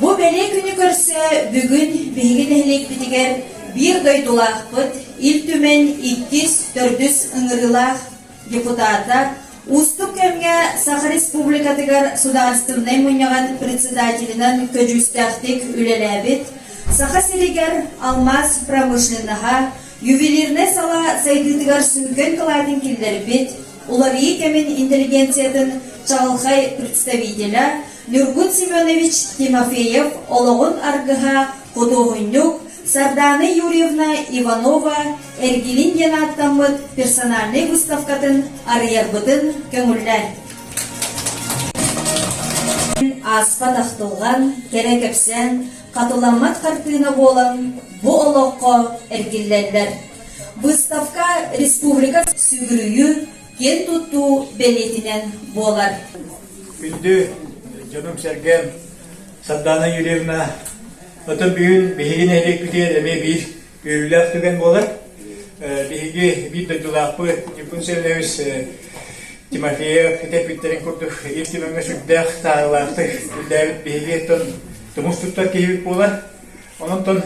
Бу бэлиэ күнү көрсө бүгүн биһиги нэһилиэкпитигэр биир дойдулаахпыт Ил Түмэн иккис, төрдүс ыҥырыылаах депутата, уустук кэмҥэ Саха Республикатыгар Судаарыстыбынай Мунньаҕын председателинэн көдьүүстээхтик үлэлээбит, Саха сиригэр алмаас промышленноһа, ювелирнай сала сайдыытыгар сүҥкэн кылаатын киллэрбит, уларыйыы кэмин интеллигенциятын чаҕылхай представителэ, Ньургун Семенович Тимофеев олоҕун аргыһа, худуоһунньук Сардаана Юрьевна Иванова эргилин диэн ааттаммыт персональнай выставкатын арыйарбытын көҥүллээн ааспат ахтылҕан, кэрэ кэпсээн, хатыламмат хартыына буолан бу олоххо эргиллэллэр. Выставка республика сүгүрүйүү киэн туттуу бэлиэтинэн буолар. Күндү дьонум-сэргэм Сардаана Юрьевна, отон бүгүн биһиги нэһилиэкпитигэр эмиэ биир үөрүүлээх түгэн буолар. Биһиги биир дойдулаахпыт Дьиппун Сэлэһис Тимофеев этэппиттэрин курдук Ил Түмэҥҥэ сүрдээх сааһылаахтык үллээбит биһиги оттон тумус туттар киһибит буолар. Онтон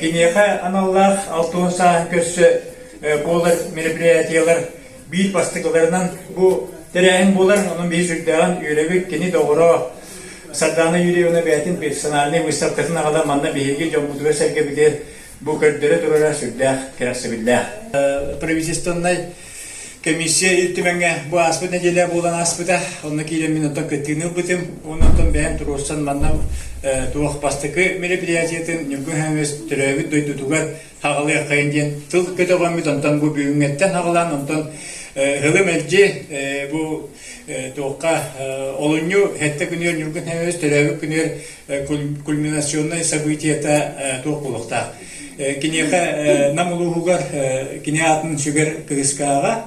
киниэхэ аналлаах алтыһы сааһын көрсө буолар мероприятиелар биир бастакыларынан бу тэрээһин буолар. Онон биһи сүрдээҕин үөрэбит кини доҕоро Сардаана Юрьевна бэйэтин персональнай выставкатын аҕата манна биһиги дьоммутугар-сэргэбитигэр бу көрдөрө турара сүрдээх кэрэхсэбиллээх. Правительственнай Комиссия Ил Түмэҥҥэ бу ааспыт нэдиэлэ буолан ааспыта. Онно киирэн мин оттон кыттыыны ылбытым. Уонна оттон бэйэм туруорсан манна туох бастакы мероприятиетын Ньургун Хаҥалас төрөөбүт дойдутугар хаҕалыаххайын диэн тыл көтөҕөммүт. Онтон бу бүгүҥҥэттэн хаҕалаан, онтон һылы-мэлдьи бу туохха олунньу 70 күнүгэр Ньургун Хаҥалас төрөөбүт күнүгэр кульминационнай событията туох буолуохтаах. Киниэхэ Нам улууһугар кини аатын сүгэр кыыскааҕа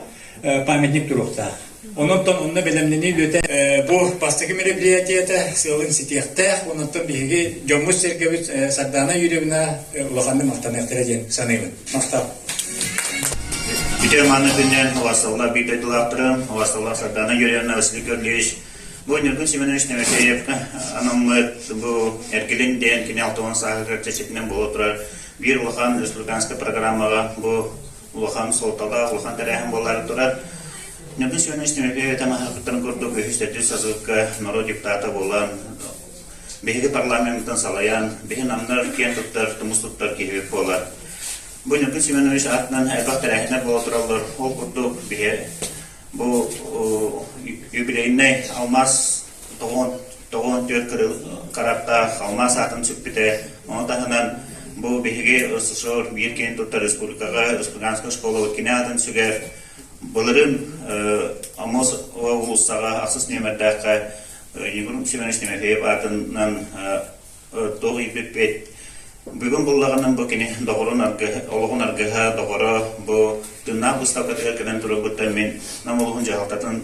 памятник туруохтаах. Ононтон онно бэлэмнэнии үлэтэ бу бастакы мероприятиета сыалын ситиэхтээх. Ононтон биһиги дьоммут сэргэбит Сардаана Юрьевна улаханнык махтаныахтара диэн саныыбын. Махтап. Бүтэр манна күннен, уасталла биир дойдулаахтарын, уасталла Сардаана Юрьевна Василий Көрлевич Бу Ньургун Семенович Тимофеевка анаммыт бу эргилин диэн кини алтыһыан сааһыгар чэрчитинэн буола турар биир улахан республиканскай программаҕа бу улахан суолталаах, улахан тэрээһин буолаары турар. Ньургун Семенович Тимофеевич таҥаһыттан курдук үһүс төрдүс сасыыкка норуот депутата буолан биһиги парламеммытын салайан биһи намнар киэн туттар, тумус туттар киһи буолар. Бу Ньургун Семенович аатынан элбэх тэрээһиннэр буола тураллар. Ол курдук биһи Бу юбилейнай алмаас тоҕуон тоҕуон түөрт караттаах алмаас аатын сүкпүтэ. Ону таһынан бу биһиги СССР биир киһини туттар республикаҕа Республиканская школа кинэ атын сүгэр. Былырын Амос уулуссаҕа ахсыс нүөмэрдээххэ Егор Семенович Тимофеев аатынан туох ииппиппит. Бүгүн буллаҕынан бу кини доҕорун аргыһа, олоҕун аргыһа, доҕоро бу тыыннаах быыстапкатыгар кэлэн турарбыттан мин Нам улууһун дьаһалтатын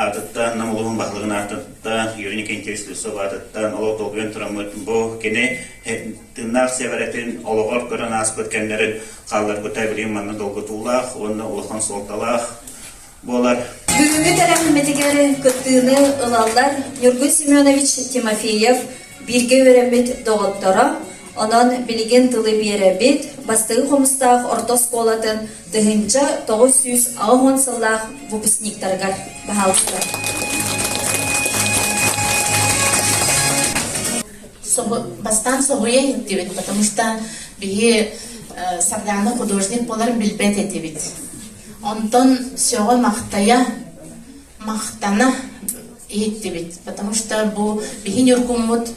аатыттан, Нам улууһун баһылыгын аатыттан, Юрий Никентьевич Слюсов аатыттан олох долгуйан тураммыт бу кини тыыннаах сиэбэрэтин олоҕор көрөн ааспыт кэмнэрин хаалларбыта билигин манна долгутуулаах уонна улахан суолталаах буолар. Бүгүҥҥү кэрэхэммитигэр кыттыыны ылаллар Ньургун Семенович Тимофеев бииргэ үөрэммит доҕотторо, онон билигин тылы биэрэбит бастыҥ хомустаах орто оскуолатын тыһыынча тоҕус сүүс аҕыс уон сыллаах выпускниктарыгар баһаалыста. Бастаан собуйан иттибит, потому что биһи э, Сарданы художник боларын билбет этибит. Онтон сөҕө-махтайа, махтана иһиттибит, потому что бу иһи Ньургуммут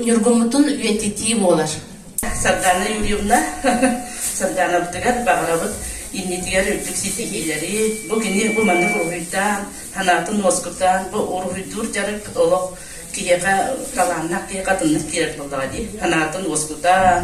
Ньургуммутун үйэтитии буолар. Сардаана Юрьевна, Сардаанабытыгар баҕарабыт иннитигэр үрдүк ситиһиилэри, бу кини бу маннык уруһуйдаан, санаатын уоскутаан, бу уруһуйдуур дьарык олох киһиэхэ талааннах киһиэхэ атыннык киирэр буоллаҕа дии. Санаатын уоскутаан,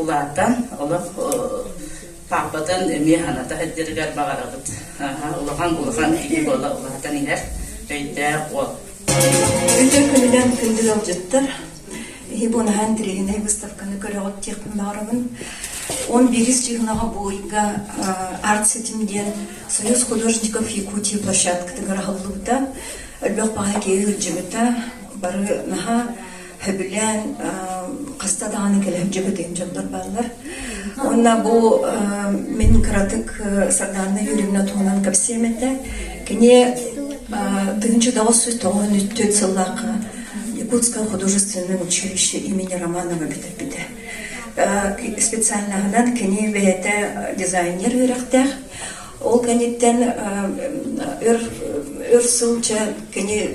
улаатан олох паапатын эмиэ аната сылдьарыгар баҕарабыт улахан улахан киһи буола улаатан иһэр өйдөөх уол Өтө көлүлэн күндүл олдьуттар Хибонаһан тириһинэй выставканы көрөҕүт тиэхпин баҕарабын. Он бирис чыгнаға бойга арт-сетим диен Союз художников Якутии площадкатыгар ахыллыбыта. Өлбөх паха кеи өлжөмүта бары наха Хөбүлээн хаста даҕаны кэлэн дьөкөтүн дьоннор бааллар. Онно бу мин кыратык Сардаана Юрьевна туһунан кэпсиэм этэ. Кини тыһынчы доҕос тоҕон үттүт сыллаахха Якутское художественное училище имени Романова бүтэрбитэ. Специальнааһынан кини бэйэтэ дизайнер үөрэхтээх. Ол кэнниттэн өр өр сылча кини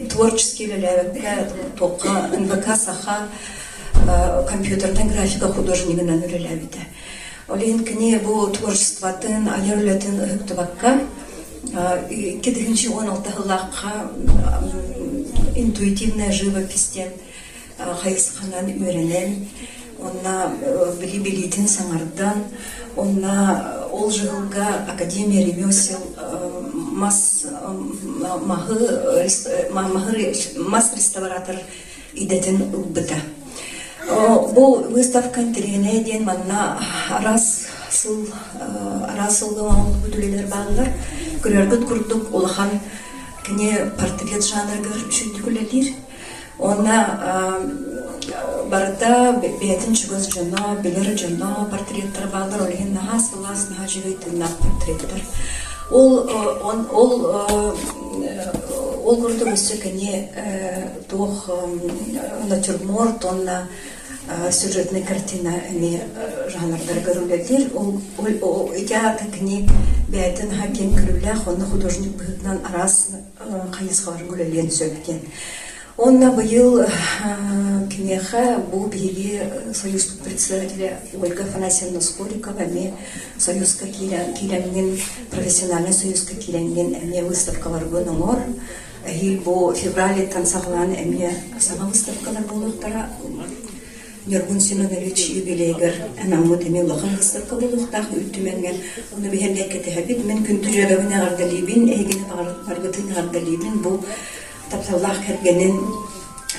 творческие үлэлэргэ токка НВК саха компьютертан графика художнигынан үлэлээбитэ. Олин кини бу творчествотын айар үлэтин ыһыктыбакка икки тыһынчы он алты ыллаахха интуитивная живопись диэн хайысханан үөрэнэн онно билии-билиитин саҥардан онно ол дьыһылга академия ремесел мас маһы мас реставратор идэтин ылбыта бу выставка интеллигенная диэн манна араас сыл араас сылга оҥоһуллубут үлэлэр бааллар көрөргүт курдук улахан кини портрет жанрыгар үчүннүк үлэлиир Уонна барыта бэйэтин чугас дьоно, билэр дьоно, портреттара бааллар, ол иһин наһаа сылаас, наһаа дьүһүй тыыннаахтар тириттэр. Ол ол ол курдук өссө кини туох натюрморт уонна сюжетная картина эмиэ жанрдары көрүллэллэр. Ол ити аата кини бэйэтин наһаа киэҥ көрүүлээх уонна художник быһыытынан араас хайысхаларын үлэлиэн сөп диэн. Уонна быйыл киниэхэ бу биһиги Союзпут председателя Ольга Афанасьевна Скорикова эмиэ Союзка киирэн киирэҥҥин, профессиональнай Союзка киирэҥҥин эмиэ выставкаларбын оҥор. Эһиил бу февралиттан саҕалаан эмиэ саҥа выставкалар буолуохтара. Ньургун Семенович юбилейыгар анаммыт эмиэ улахан ыстакка буолуохтаах Үүт Түмэҥҥэ Ону биһиргэ кэтэһэбит. Мин күн түрүөгэбин эҕэрдэлиибин, эһигини баргытын эҕэрдэлиибин. Бу тапталлаах кэргэнин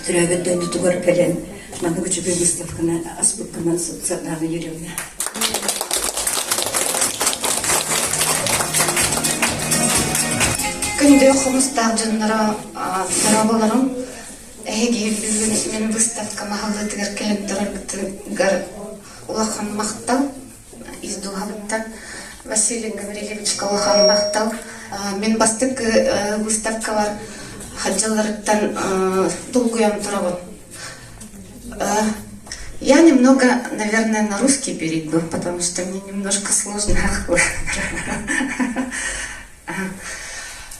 төрөөбүт дойдутугар кэлэн маннык үчүгэй выставканы аспыккынан Светлана Юрьевна. Күндү хомустаах дьонноро, дороболорум, Эһиги иллүүрүн мин быыстапка маһыллыытыгар кэлэн тураргытыгар улахан махтал ис дууһабыттан Василий Гаврильевичка улахан махтал. Мин бастакы выставкабар дьылларыттан долгуйан турабын. Я немного, наверное, на русский перейду, потому что мне немножко сложно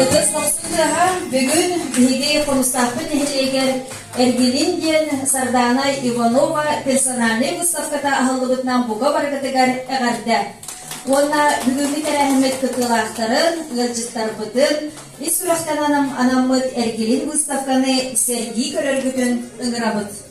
Ытыс охсу тыаһа бүгүн биһиги хонустаахпыт нэһилиэгэр эргилин диэн Сардаана Иванова персональнай выставката аһыллыбытынан бука барыгытыгар эҕэрдэ. Уонна бүгүҥҥү тэрээһиммит кытыылаахтарын, ыалдьыттарбытын ис сүрэхтэн анаммыт эргилин выставканы сэргии көрөргүтүн ыҥырабыт.